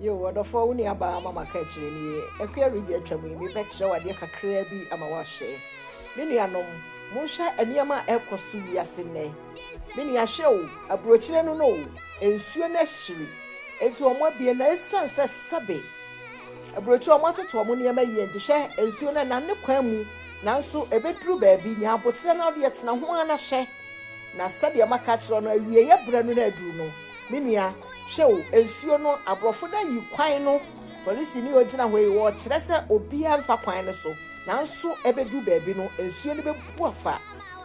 Yoo ɔdɔfoɔ wo nua baa mama ka akyire ni ɛkoa redi atwam yi mebɛkyerɛ wo adeɛ kakraa bi ama woahwɛ me nuanom monhwɛ nneɛma a ɛkɔ so wiase nnɛ me nua hwɛ o aburokyire no no o nsuo no ahyiri enti wɔn abie na ɛsiane sɛ sɛbe aburokyire wɔn atoto wɔn nneɛma yie nti hwɛ nsuo no ɛnane kwan mu Nanso ɛbɛduru baabi, nya aboterɛ na wodeɛ tena ho ara na hwɛ, na sɛdeɛ maka akyerɛ wo no, awieeɛ berɛ no na aduru no, me nua, hwɛ o, nsuo no, aborɔfo no ayi kwan no, polisini a ɔgyina hɔ yi, ɔrekyerɛ sɛ obiara mfa kwan no so, nanso ɛbɛduru baabi no, nsuo no bɛbu afa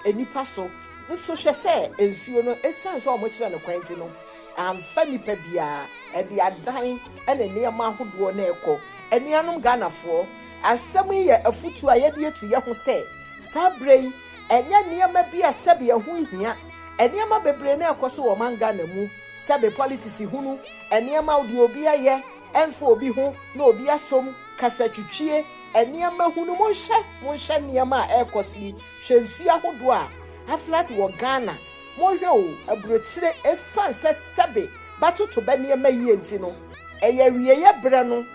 nnipa so, nso hwɛ sɛ nsuo no, ɛsiane sɛ wɔkyerɛ no kwan nti no, amfa nnipa biara, ɛde adan ne nneɛma ahodoɔ na ɛrekɔ. Anuanom Ghanafoɔ, Asɛm yi yɛ afotu a yɛde atu yɛn ho sɛ saa bere yi ɛnyɛ nneɛma bi a sɛbe ɛho nhia. Nneɛma bebree na ɛrekɔ so wɔ ɔman Ghana mu, sɛbe politisi hunu, nneɛma deɛ obi ayɛ ɛmfa obi ho na obi asom, kasatwitwie, nneɛma hunu. Monhwɛ, monhwɛ nneɛma a ɛrekɔ so yi, hwɛ nsuo ahodoɔ a aflat wɔ Ghana. Monhwɛ o, aburokyire, ɛsiane sɛ sɛbe bɛatoto bɛ nneɛma yie nti no, ɛyɛ awieeɛ berɛ no.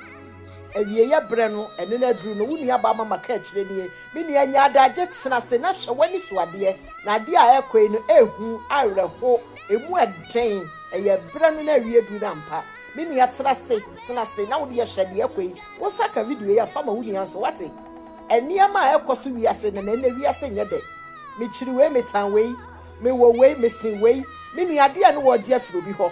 Awieeɛ berɛ no, ɛno no aduru no, wo nuabaa Mama kaa akyire nie, Me nua, nya adagye, tena ase na hwɛ w'ani so adeɛ, na adeɛ a ɛrekɔ yi no, ɛyɛ hu, awerɛho, ɛmu yɛ den, ɛyɛ berɛ no na awie aduru no ampa? Me nua, tena ase, tena ase na wo deɛ hwɛ deɛ ɛrekɔ yi, wo nsa ka video yi a, fa ma wo nua nso, woate? Nneɛma a ɛrekɔ so wiase nnɛ no, ɛnnɛ wiase nyɛ dɛ. Mekyiri wei, metan wei, mewɔ wei, mesen wei, Me nua, adeɛ a ne wɔregye afiri obi hɔ,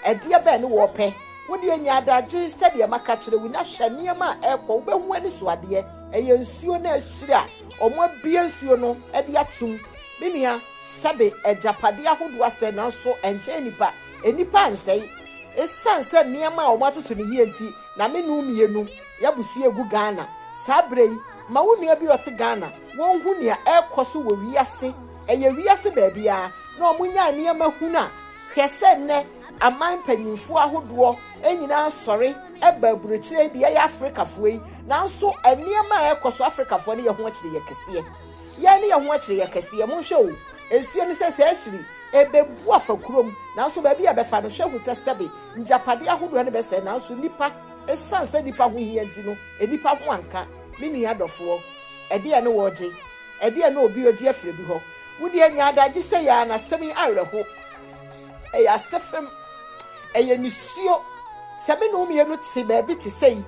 ɛdeɛ bɛn ne wɔrepɛ? Wo deɛ nya adagye sɛdeɛ maka kyerɛ wo na hwɛ nneɛma a ɛrekɔ wobɛhu anisoadeɛ. Ɛyɛ nsuo no akyiri a wɔabue nsuo no de atom. Me nua, sɛbe agyapadeɛ ahodoɔ asɛe nanso ɛnkyɛn nnipa. Nnipa ansɛe. Ɛsiane sɛ nneɛma a wɔatoto no yie nti na me ne wo mmienu yɛabusua regu Ghana saa berɛ yi. Ma wo nua bi a ɔte Ghana no ɔnhu nea ɛrekɔ so wɔ wiase. Ɛyɛ wiase baabiara na wɔnyaa nneɛma hunu a hwɛ sɛ nnɛ Aman mpanyimfo ahodoɔ nyinaa sɔre ba aburokyire yi de yɛyɛ Afrikafoɔ yi, nanso nneɛma a ɛrekɔ so Afrikafoɔ no yɛ ho akyire yɛ kɛseɛ. Yɛn no yɛ ho akyire yɛ kɛseɛ. Monhwɛ o, nsuo no sɛ sɛ ahyiri ɛbɛbu afa kurom, nanso baabi a ɛbɛfa no hwɛ hu sɛ sɛbe ngyapadeɛ ahodoɔ no bɛsɛe, nanso nnipa, ɛsiane sɛ nnipa ho hia nti no, nnipa ho anka. Me nua adɔfoɔ, ɛdeɛn ne wɔregye? Ɛdeɛn ne obi regye afiri obi hɔ? Wo deɛ nya adagye sɛ yɛn ara no asɛm yi awerɛho. Ɛyɛ asefem. Ɛyɛ nisuo. Sɛ me ne wo mmienu te baabi te sɛ yi,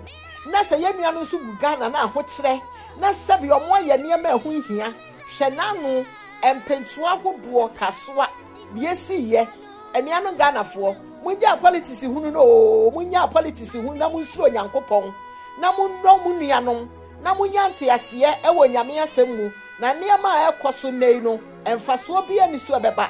na sɛ yɛn nua no nso gu Ghana na ahokyerɛ, na sɛbi wɔn ayɛ nneɛma a ɛho nhia, hwɛ n'ano, mpentoa ahodoɔ, kasoa, deɛ esi yɛ. Anuanom Ghanafoɔ, mongyaa politics hunu no oo, monnyaa politics hunu na monsuro Onyankopɔn, na monnɔ mo nuanom, na monya nteaseɛ wɔ Nyame asɛm mu, na nneɛma a ɛrekɔ so nnɛ yi no, Mfasoɔ biara nni so a ɛbɛba,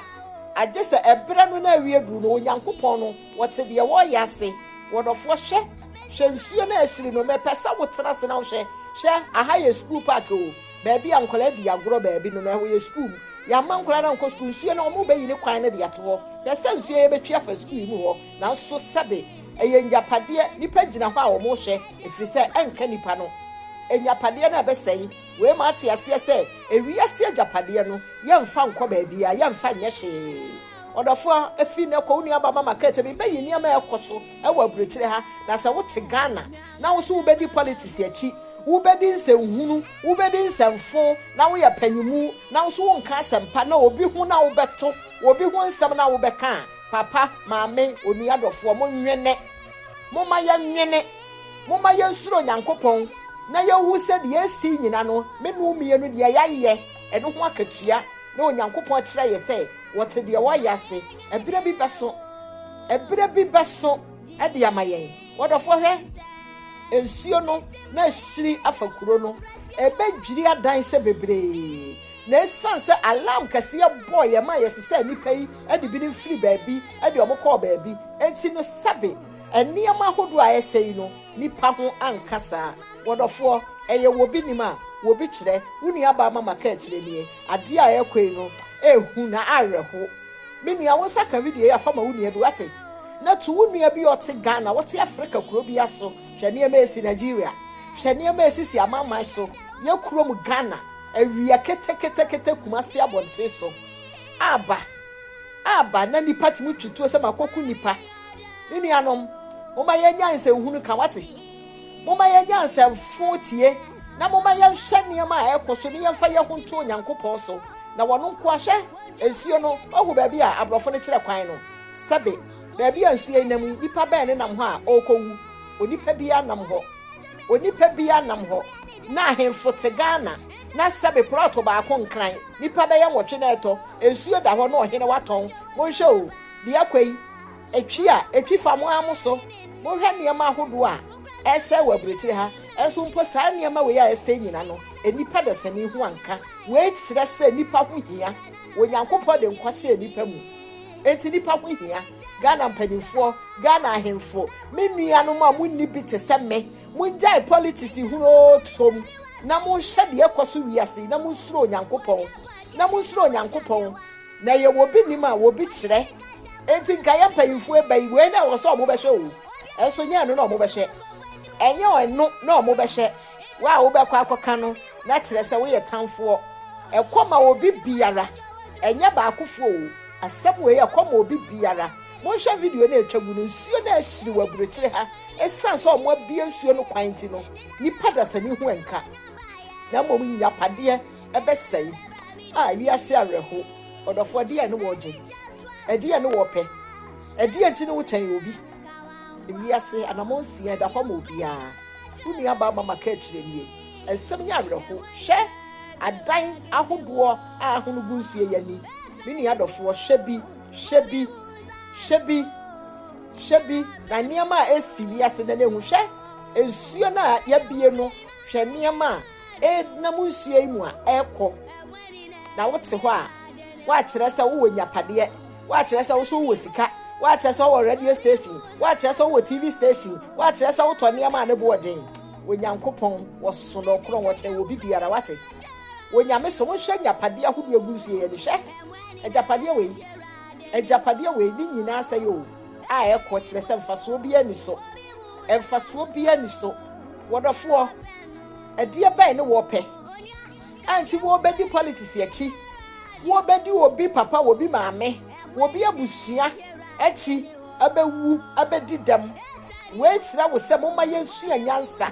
agye sɛ ɛberɛ no na awie duru na Onyankopɔn no, Ɔte deɛ wɔreyɛ ase. Wɔdɔfoɔ, hwɛ, hwɛ nsuo no a ɛhyiri no, mepɛ sɛ wo tena ase na wo hwɛ. Hwɛ, aha yɛ sukuu park o, baabi a nkwadaa di agorɔ baabi no, na ɛhɔ yɛ sukuu mu. Yɛamma nkwadaa no ankɔ sukuu, nsuo no, wɔrebɛyi ne kwan no de ato hɔ. Hwɛ sɛ nsuo yɛbɛtwi afa sukuu yi mu hɔ, nanso sɛbe, ɛyɛ ngyapadeɛ, nnipa gyina hɔ a wɔrehwɛ, ɛfiri sɛ ɛnka nnipa no, ngyapadeɛ no a ɛbɛsɛe. Wei ma ate aseɛ sɛ ewiase agyapadeɛ no, yɛmfa nkɔ baabiara, yɛmfa nyɛ hwee. Ɔdɔfoɔ, ɛfiri nnɛ kɔ, wo nuabaa Mama ka kyerɛ me, bɛyi nneɛma a ɛrekɔ so wɔ aburokyire ha, na sɛ wote Ghana na wo nso wobɛdi politics akyi, wobɛdi nsɛnhunu, wobɛdi nsɛmfo, na woyɛ panyinmu, na wo nso wonka asɛmpa na obi ho na wobɛto, obi ho nsɛm na wobɛka a, papa, maame, onua dɔfoɔ, monwene. Momma yɛnwene. Momma yɛnsuro Nyankopɔn na yɛnhu sɛ deɛ ɛsii nyina no, me no mmienu deɛ yɛayɛ ɛno ho akatua, na Onyankopɔn akyerɛ yɛ sɛ wɔte deɛ wɔayɛ ase, ɛberɛ bi bɛso, ɛberɛ bi bɛso de ama yɛn. Wɔdɔfoɔ hwɛ, nsuo no na ahyiri afa kuro no, ɛbɛdwiri adan sɛ bebree, na ɛsiane sɛ alarm kɛseɛ bɔɔeɛ maa yɛsesaa nnipa yi de binom firii baabi de wɔn kɔɔ baabi, enti no sɛbe, Nneɛma ahodoɔ a ɛsɛ yi no nipa ho anka saa. Wɔdɔfoɔ, ɛyɛ wɔ bi nim a, wɔ bi kyerɛ. Wo nua baa ma maka akyire nie. Adeɛ a ɛrekɔ yi no ɛyɛ hu na awerɛho. Me nua wo nsa ka video yi a fa ma wo nua bi wate. Na tu wo nua bi a ɔte Ghana, ɔte Afrika kuro bi a so. Hwɛ nneɛma a ɛsi Nigeria. Hwɛ nneɛma a ɛsisi amanman so. Yɛ kurom Ghana, awia keteketekete Kumasi abɔnten so. Aba, aba na nipa tumi twi tuo sɛ makɔku nipa. Me nuanom, momma yɛnya nsɛnhunu ka wate. Momma yɛnya nsɛmfo tie na momma yɛnhwɛ nneɛma a ɛkɔ so ne yɛmfa yɛn ho nto Onyankopɔn so na wɔno nko ahwɛ nsuo no ɔho baabi a aborɔfo no kyerɛ kwan no sɛbe baabi a nsuo nam yi nipa bɛn ne nam hɔ a ɔrekɔwu onipa biara nam hɔ onipa biara nam hɔ na ahemfo te Ghana na sɛbe plɔto baako nkran nipa bɛyɛ nwɔtwe na ɛtɔ nsuo da hɔ na ɔhene watɔn monhwɛ o Deɛ ɛkɔ yi, etwi a etwi fa mo ara mo so. Mohwɛ nneɛma ahodoɔ a ɛresɛe wɔ aburokyire ha, nso mpo saa nneɛma wei a ɛresɛe nyina no, nnipa dasani ho anka. Wei kyerɛ sɛ nnipa ho hia. Onyankopɔn de nkwa hyɛɛ nnipa mu, enti nnipa ho hia. Ghana mpanimfoɔ, Ghana ahemfo, me nuanom a monni bi te sɛ me, mongyae politics hunu oo tom na monhwɛ deɛ ɛkɔ so wiase yi na monsuro Onyankopɔn, na monsuro Onyankopɔn. Na yɛ wɔ bi nim a wɔ bi kyerɛ enti nka yɛ mpanyinfoɔ ɛba yi wei na ɛwɔ sɛ ɔmo bɛhwɛ oo ɛnso nyɛ ɛno na ɔmo bɛhwɛ ɛnyɛ ɛno na ɔmo bɛhwɛ wo a wo bɛkɔ akɔ ka no na kyerɛ sɛ wo yɛ tanfoɔ ɛkɔ ma obi biara ɛnyɛ baakofoɔ oo asɛm wei ɛkɔ ma obi biara monhwɛ video no a ɛtwa gu no nsuo no ahyiri wɔ aburokyire ha ɛsiane sɛ ɔmo abue nsuo no kwan nti no nipa dasani ho ɛnka na mmom nyapadeɛ. ɛbɛsɛe a wiase awerɛhow. Ɔdɔfo, ɛdeɛn ne wɔregye? Ɛdeɛn ne wɔrepɛ? Ɛdeɛn nti ne wokyɛn obi? Wiase anamɔ nsia ɛda hɔ ma obiara. Wo nua baa mama ka akyire nie. Nsɛm nyɛ awerɛho. Hwɛ adan ahodoɔ a ahono gu nsuo yɛ ni. Me nua dɔfoɔ, hwɛ bi, hwɛ bi, hwɛ bi, hwɛ bi, na nneɛma a ɛsi wiase na ne ho. Hwɛ nsuo no a yɛabie no, hwɛ nneɛma a ɛdenam nsuo yi mu a ɛrekɔ na wote hɔ a woakyerɛ sɛ wowɔ nyapadeɛ woakyerɛ sɛ woso wowɔ sika woakyerɛ sɛ wowɔ radio station woakyerɛ sɛ wowɔ tv station woakyerɛ sɛ wotɔ nneɛma a ne boɔ den onyankopɔn wɔsoso na ɔkorɔn wɔkyɛn wɔ bibiara wate onyame so monhwɛ agyapadeɛ ahodoɔ agu nsuo yɛ ne hwɛ agyapadeɛ wei agyapadeɛ wei ne nyinaa sɛ yɛ o a ɛkɔ kyerɛ sɛ mfasoɔ biara ni so mfasoɔ biara ni so wɔdɔfoɔ ɛdeɛ bɛn ne wɔpɛ ɛnti wɔbɛdi politics akyi wɔbɛdi obi papa obi maame obi abusua akyi ɛbɛwu ɛbɛdi dɛm wei kyerɛ wo sɛ moma yɛnsua nyansa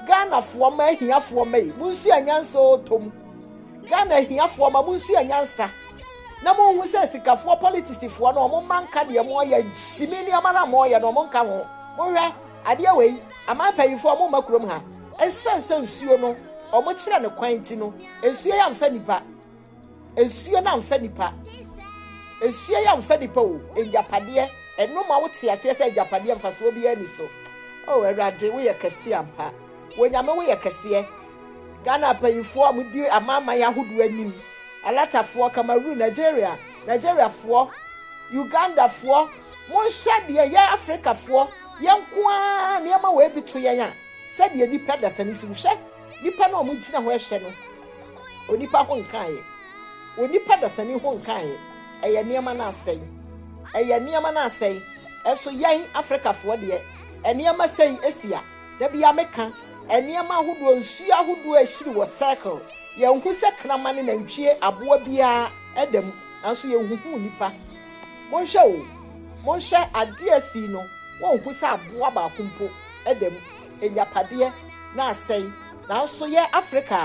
ghanafoɔ ma ahiafoɔ ma yi monsua nyansa ɔtɔm ghana ahiafoɔ ma monsua nyansa na monhu sɛ sikafoɔ politisifoɔ no ɔmo ma nka deɛ mo ɔyɛ nhyimi nneɛma no a mo ɔyɛ no ɔmo nka ho mohwɛ adeɛ wei Aman mpanyimfo a wɔmma kurom ha esiane sɛ nsuo no wɔkyerɛ no kwan nti no, nsuo yi amfa nipa. Nsuo no amfa nipa. Nsuo yi amfa nipa o. Agyapadeɛ, ɛno ma wote aseɛ sɛ agyapadeɛ mfasoɔ biara ni so. O Awurade, woyɛ kɛseɛ ampa. Wonyame woyɛ kɛseɛ. Ghana mpanyimfoɔ a wɔdi amanaman ahodoɔ anim, alatafoɔ, Cameroon, Nigeria, Nigeriafoɔ, Ugandafoɔ, monhyɛ deɛ yɛ Afrikafoɔ Yɛn nko ara nneɛma wei bi to yɛn a, sɛdeɛ nnipa dasani si wohwɛ nnipa no a wɔgyina hɔ ɛhwɛ no, onipa ho nkaeɛ, onipa dasani ho nkaeɛ, ɛyɛ nneɛma no asɛe, ɛyɛ nneɛma no asɛe. Ɛso yɛn Afrikafoɔ deɛ, nneɛma sɛi ɛsi a, da biara meka, nneɛma ahodoɔ, nsuo ahodoɔ ɛhyiri wɔ circle, yɛnhu sɛ kraman, nantwie, aboa biara ɛda mu, nanso yɛnhuhu nnipa. Monhwɛ o, monhwɛ adeɛ a asii no, wonhu sɛ aboa baako mpo da mu, agyapadeɛ na asɛe, nanso yɛ Afrika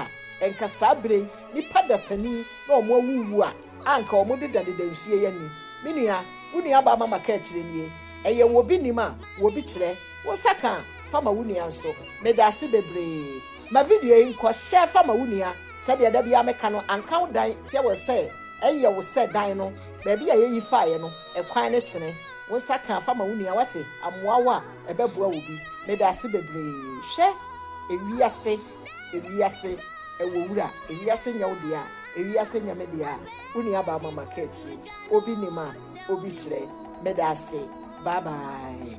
a anka saa berɛ yi nnipa dasani na wɔn awuwu a anka wɔn dedadeda nsuo yi ani. Me nua, wo nuabaa Mama ka akyire nie, ɛyɛ wo obi nim a wo obi kyerɛ, wo nsa ka a fa ma wo nua nso. Medaase bebree. Ma video yi nkɔ, share fa ma wo nua. Sɛdeɛ da biara meka no, anka wo dan te wɔ sɛ ɛyɛ wo sɛ dan no baabi a yɛyi faeɛ no ɛkwan no tene. Wo nsa ka fa ma wo nua wate amoa wo a ɛbɛboa wo bi. Medaase bebree. Hwɛ ewiase ewiase ɛwɔ wura ewiase nyɛ wo dea ewiase nyɛ me dea wo nua baa ma maka akyire obi nim a obi kyerɛ medaase bye bye.